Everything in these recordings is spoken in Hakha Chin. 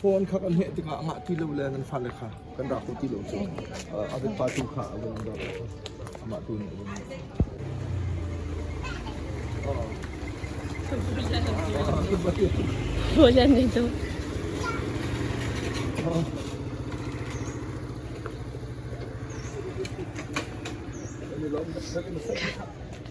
Phone kha kan heh tikah a ngah ti lo le nan fale kha kan rak ti lo cu a biapa tu kha a vun rak amah tu nih a vun Bojan itu.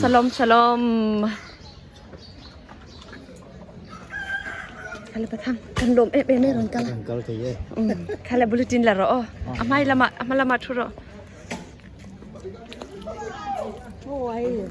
Shalom, shalom. Kala patham kan lom e pe me ron kala. Kan kal thei e. Kala bulletin la ro. Amai lama amai lama thu ro. How are you?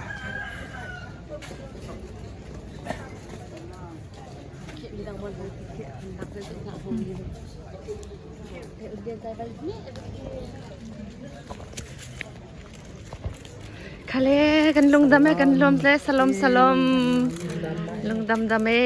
Khale kan lungdam e kan lom tle salom salom lungdam dam e.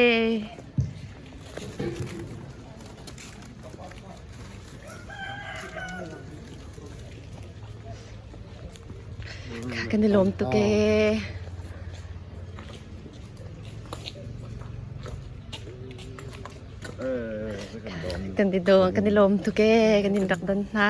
Kan i lawm tuk ee. Kan i dawm, kan i lawm tuk ee. Kan in rak don hna.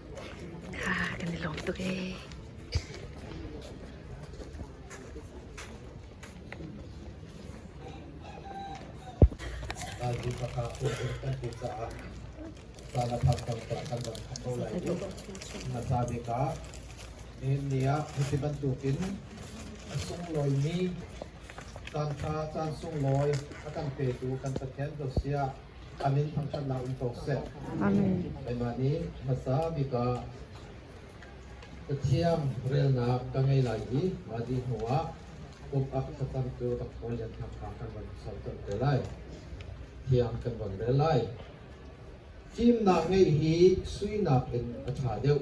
kan i lawm tuk ee. a sunglawi mi caan tha caan sunglawi a kan petu kan Pathian ko sia Amen thangthatnak um ko seh. Amen. Keimah nih hmasa bika Pathian relnak ka ngei lai i madi hnuah pumpak thlacam cu rak hawi le thakha kan van sorter te lai. Thiang kan van rel lai. Fimnak ngeih hi suinak in a tha deuh.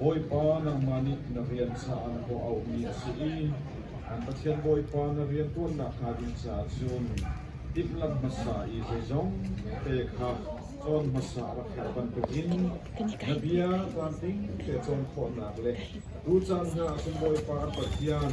Bawipa nangmah nih na rian caah na hawh auhmi a si i an Pathian Bawipa na rianṭuannak hnga ding caah cun timhlamh hmasa i zeizongte kha cawn hmasa rak herh bantukin na bia tlamtling te cawn khawhnak le tu caan hna ah cun Bawipa Pathian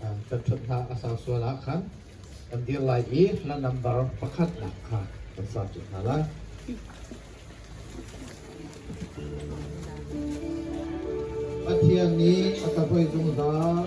kan ṭhat hna a sau sual ah khan kan dir lai i hla nambar pakhatnak kha kan sa ṭi hna lai. Pathian nih a cabuai zungzal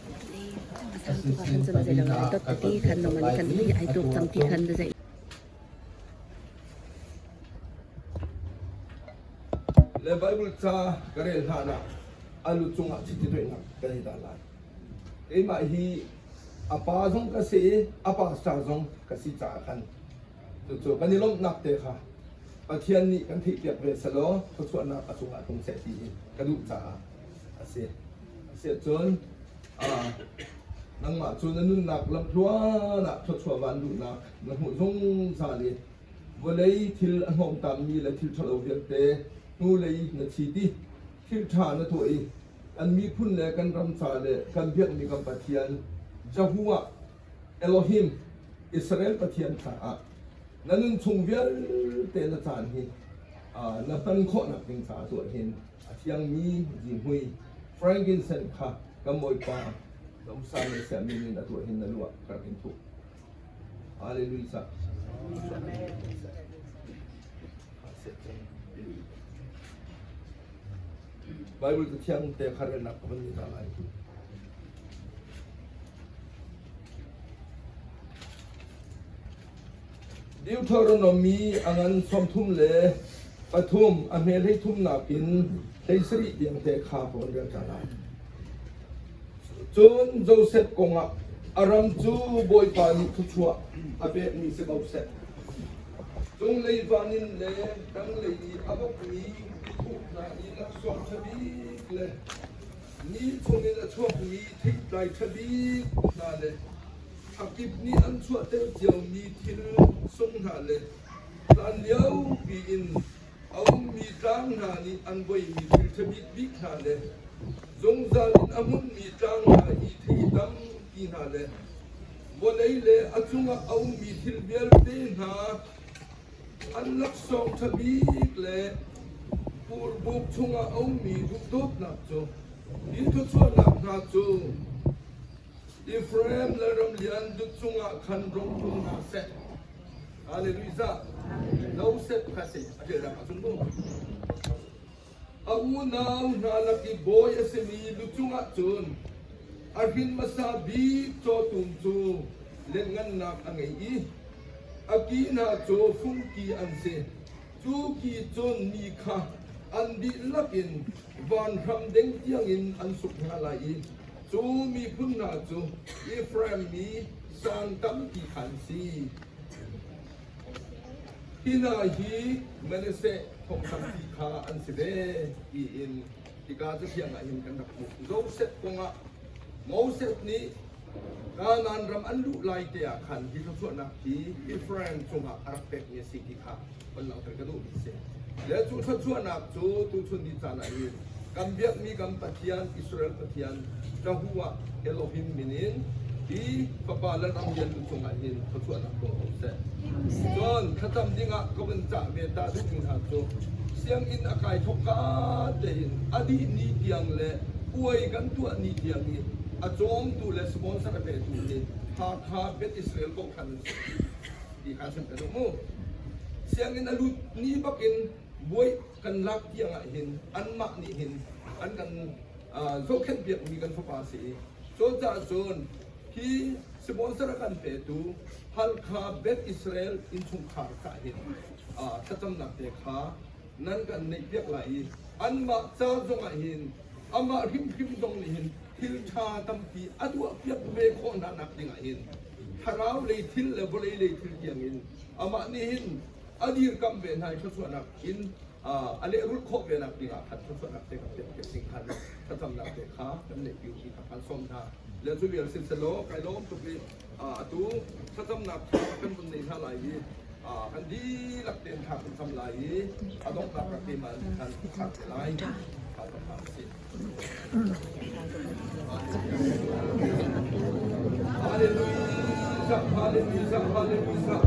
Le Baibal ca ka rel hlanah a lu cungah chiti doihnak kan i dah lai. Keimah hi a pa zong ka si i a pastor zong ka si caah khan cucu kan i lawmhnak te kha Pathian nih kan theihpiak ve selaw thluachuahnak a cungah tlung seh ti hi ka duh caah Asiahcun nangmah cu na nunnak lamhluan ah thluachuah van duhnak na hmuh zungzal i vawlei thil a hnawngtammi le thil ṭhalo vialte hnulei na thi ti thil ṭha na tuah i kan miphun le kan ram ca le kan biakmi kan Pathian Jehovah Elohim Israel Pathian caah na nun chung vialte na caan hi na hman khawhnak ding caah tuah hin A thiangmi zihmui frankinsen kha kan Bawipa na usa le siah min in a tuah hin na lu ah ka rak in thuh. Hallelujah. Bible tu thiang te khar na ka ban ta lai. Deuthaw runawm mi a ngan sawmthum le pathum a hme hleithum nakin hlei sarih tiangte kha ka hun relṭa lai. Cun Josef kongah a ram cu Bawipa nih thluachuah a pekmi si ko seh. Cung leivan in le dranglei i a ukmi tuk hna i laksawng ṭha bik le ni chungin a chuakmi theitlai ṭha bik hna le a kip nih an chuahter ciomi thil sung hna le hlan liopi in a ummi tlang hna nih an voihmi thil ṭhabik bik hna le zungzal in a hmunmi tlang hna i thei tampi hna le vawlei le a cungah a ummi thil vialte hna an laksawng ṭha bik le purbuk chungah a ummi duh dawtnak cu hi thluachuahnak hna cu Efraim lalram lian dut cungah khan rom hlung hna seh. Hallelujah. No set kha seh a ṭialnak ah cun mu. A unau hna lak i bawi a simi lu cungah cun a hrin hmasa bik cawtum cu lianhngannak a ngei i a ki hna cu fungki an si. Cu ki cun mi kha an dihlak in vanram deng tiangin an suk hna lai i cu miphun hna cu Efraim mi sawng tampi kha an si. Hi hna hi Manasseh thong tampi kha an si ve tiin hika cathiang ah hin kan rak hmuh. Josef kongah Moses nih Kanaan ram an luh lai te ah khan hi thluachuahnak hi Israel cungah a rak pekmi a si ti kha kan langhter ka duhmi a si. Le cu thluachuahnak cu tuchun ni caan ah hin kan biakmi kan Pathian Israel Pathian Jehovah Elohim min in hi Fapa Lalramlianu cungah hin thluachuahnak tuah ko seh. Cun thlacam dingah ka vun cah ve ta duhmi hna cu sianginn a kai thawk ka tein a dih ni tiang le puai kan tuah ni tiang i a cawmtu le sponsor a petu hi Hakha Beth Israel Kohkhan an si ti kha kan ka duh mu. Sianginn a lut ni bakin buai kan lak tiang ah hin anmah nih hin an kan uh, zohkhenh piakmi kan fapa si i cu caah cun hi sponsor a kan petu Halkha Beth Israel innchungkhar kha hin uh, thlacamnak te kha nan kan neihpiak lai i anmah ca zongah hin amah hrimhrim zong nih hin thil ṭha tampi a tuahpiak ve khawh hna nak dingah hin thlarau lei thil le vawlei lei thil tiangin amah nih hin a dirkamh ve hna i thluachuahnak in a lehrulh khawh ve nak dingah khan thluachuahnak te kha piakpiak ding khan thlacamnak te kha kan neihpiu ti kha kan sawm hna le cu vial siselaw kai lawm tuk i Atu thlacamnak tha kan vun nei hna lai i an dihlak tein tha kan cam lai i a donghnak ka keimah in khan tha te lai ka thang a si. Hallelujah, hallelujah, hallelujah.